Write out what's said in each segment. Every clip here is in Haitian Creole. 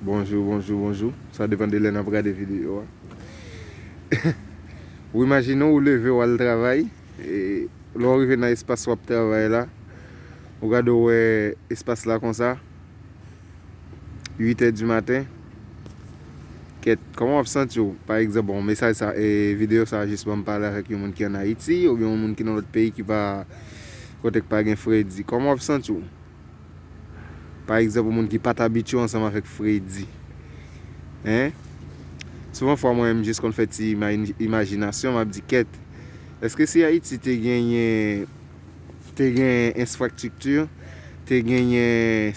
Bonjou bonjou bonjou sa depan de lè nap gade video a ou imajine ou leve ou al travay lè ou rive nan espas wap travay la ou gade ou wè espas la konsa 8 è di maten kèt kòman wap santi ou pa egzanp bon mesaj sa video sa jis banm pale avèk yon moun ki an ayiti oubyen yon moun ki nan lòt peyi ki pa kote ki pa gen fredi kòman wap santi ou. Pa egzanp, yon moun ki pa t abitye ansanm avèk Fredi. Hein? Souvan fwa mwen menm jis konn fè ti imajinasyon, m ap di kèt, èske si Ayiti te genyen, te genyen ensfraktikti, te genyen,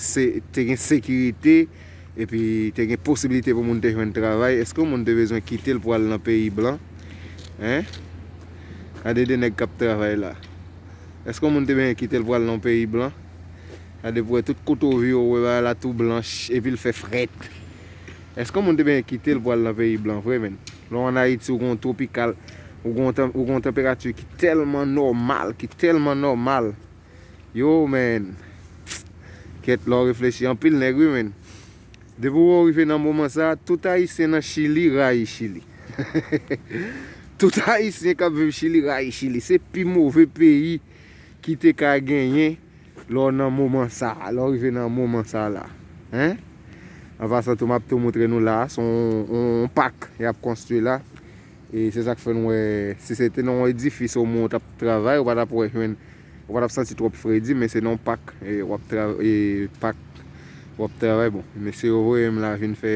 te gen sekirite, epi te gen posibilite pou moun te jwenn travay, èske yon moun te bezwen kite l pou al nan peyi blan? Hein? Gade de nèg k ap travay la. Eske yon moun te benyen kitel pral nan yon peyi blan? Gade pou wè tout kote ou vire ou wè bagay la tou blanch epil fè frèt. Eske yon moun te benyen kitel pou al nan peyi blan vre menn? Lè w an Ayiti ou gen yon tropikal, ou gen yon tanperati ki tèlman nòmal, ki tèlman nòmal. Yoo menn. Kèt lè w reflechi anpil nèg wi menn. Depi wè w rive nan moman sa, tout ayisyen nan chili rayi chili. Tout ayisyen kap viv chili rayi chili. Se pi move peyi ki te ka genyen lè w nan moman sa. Lè w rive nan moman sa la. An pasan tou map tou moutre nou la. Se yon pak yap konstwi la. E se sak fè nou wè si se te nan yon edifis ou moun ou tap travay ou pa tap wè jwenn. Ou pa tap santi trop fredi men se nan yon pak wap pak wap travay bon mesye yo voyem la vin fè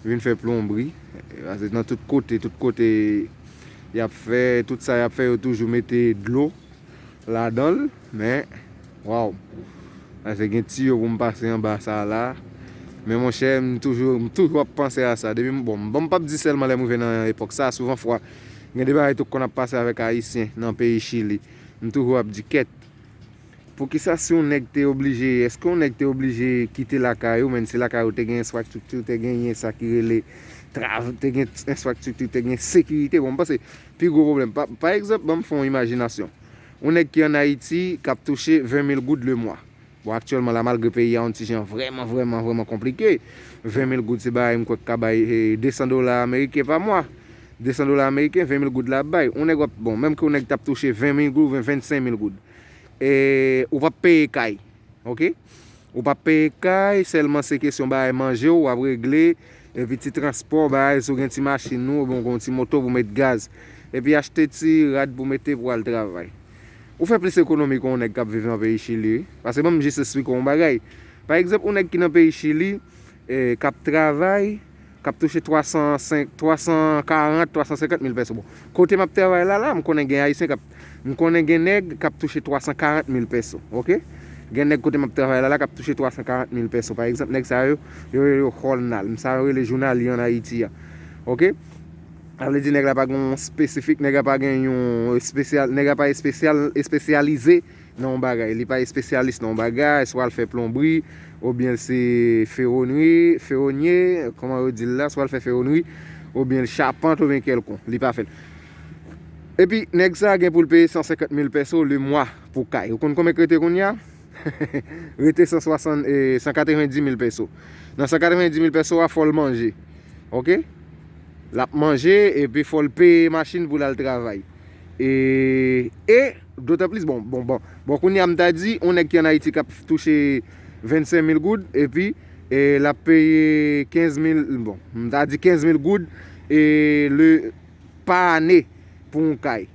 vin fè plonbri pase nan tout kote tout kote yap fè tout sa yap fè yo toujou mete dlo ladanl men waw pase gen tiyo poum pase anba sa la men monchè m toujou m toujou ap panse a sa depi bon m pap di selman lèm rive nan epòk sa souvan fwa. Gen de bagay tou k konn ap pase avèk Ayisyen nan peyi Chili. M toujou ap di kèt. Poukisa si yon nèg te oblije, èske yon nèg te oblije kite lakay ou, menn si lakay ou te gen enfraktikti, ou te genyen sa ki rele trav, te gen enfraktikti, te gen sekirite. Bon, m panse pi gwo pwoblèm, pa, pa egzanp, ban m fè yon imajinasyon. Yon nèg ki an Ayiti k ap touche 20 mil goud lemwa. Bon aktyèlman la malgre peyi a yon ti jan vrèman vrèman vrèman konplike, 20 mil goud se bagay m kwè k ka bay 200 dola ameriken pa mwa. 200 dola ameriken 20 mil goud la ap bay. Yon nèg wap, bon menm ke yon nèg t ap touche 20 mil goud oubyen 25 mil goud e ou p ap peye kay ok. Ou p ap peye kay sèlman se kesyon bagay manje w ap regle epi ti transpò bagay si w gen ti machin ou oubyen w gen yon ti moto pou w met gaz epi achte ti rad pou w mete pou w al travay. Ou fè plis ekonomi ke yon nèg kap viv nan peyi Chili wi. Pase banm jis esplike w yon bagay. Pa egzanp yon nèg ki nan peyi Chili, kap travay, kap touche 300, 340, 350 mil pèso. Bon, kote map travay la la, m konnen gen ayisyen kap, m konnen gen nèg kap touche 340 mil pèso. Ok? Gen nèg kote map travay la la kap touche 340 mil pèso. Pa egzanp nèg sa yo, yo rele yo jornal. M sa yo rele jounalye an Ayiti a. Ok? Sa vle di nèg la pa gen yon spesifik, nèg la pa gen yon espesyal, nèg la pa espesyal, espesyalize nan yon bagay. Li pa espesyalis nan yon bagay, swa l fè plonbri, oubyen l se fewonri, fewonye, kòman yo di l la, swa l fè fewonri, oubyen l chapant, oubyen kèlkon. Li pa fè l. Epi, nèg sa a gen pou l peye 150 mil pèso le mwa pou kay. Ou konn konbyen k rete kounye a? Rete 160, 190 mil pèso. Nan 190 mil pèso a, fò l manje. Ok? Lap manje epi fol peye machine pou lal travay. E e dotan plis bon bon bon bon kounye a m ta di on nèg ki an Haiti kap touche 25 mil goud epi e lap peye 15 mil bon m ta di 15 mil goud e le pa ane pou on kay.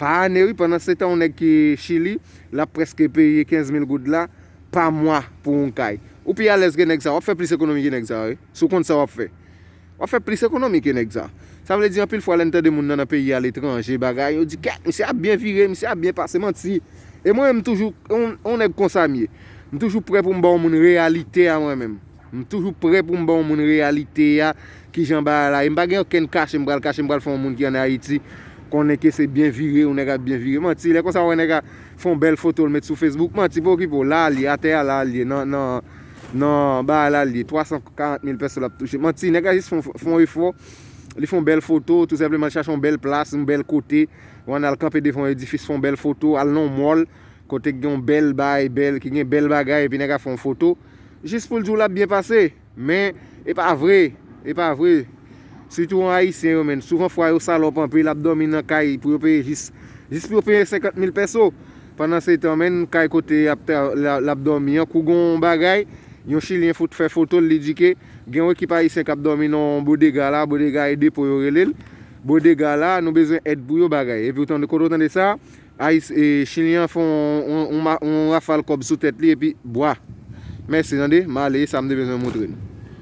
Pa ane wi pandan se tan on nèg ki chili lap preske peye 15 mil goud la pa mwa pou on kay. Ou pi alèz ke nèg sa wap fè plis ekonomi ke nèg sa wi si w konn sa wap fè. Wap fè plis ekonomi ke nèg sa. Sa vle di anpil fwa lè n tande moun nan nan peyi a letranje bagay yo di kèk misye ap byen vire misye ap byen pase manti e mwen menm m toujou on nèg konsa m ye m toujou prè pou m ba on moun reyalite a mwen menm m toujou prè pou m ba on moun reyalite a kijan bagay la ye m pa gen okenn kache m pral kache m pral fè on moun ki an Ayiti konnen ke se byen vire on nèg ap byen vire manti lè konsa wè nèg a fè on bèl foto l met sou Facebook manti pa okipe w la li atè a la li ye nan Nan baay la liye 340 mil pèso lap touche manti nèg la jis fon efò li fon bèl foto tou senpleman li chache yon bèl plas yon bèl kote ou ann al kanpe devan yon edifis fon bèl foto al nan yon mall kote gen yon bèl baay bèl ki gen bèl bagay epi nèg la fon foto jis poul diw lap byen pase men epa vre epa vre sitou an ayisyen yo menn souvan fwa yo salòp anpil ap dòmi nan kay pou yo peye jis jis pou yo peye 50 mil pèso. Pandan se tan menn kay kote lap domi an kou gon yon bagay yon chilyen fout fè fotol li di ke gen yon ekip ayisyen kap domi nan yon bodega la bodega e depo yo relel bodega la nou bezwen èd pou yo bagay epi ou tande kote ou tande sa chilyen an fè yon rafal kòb sou tèt li epi bwa mèsi tande male esam te bezwen moutre nou.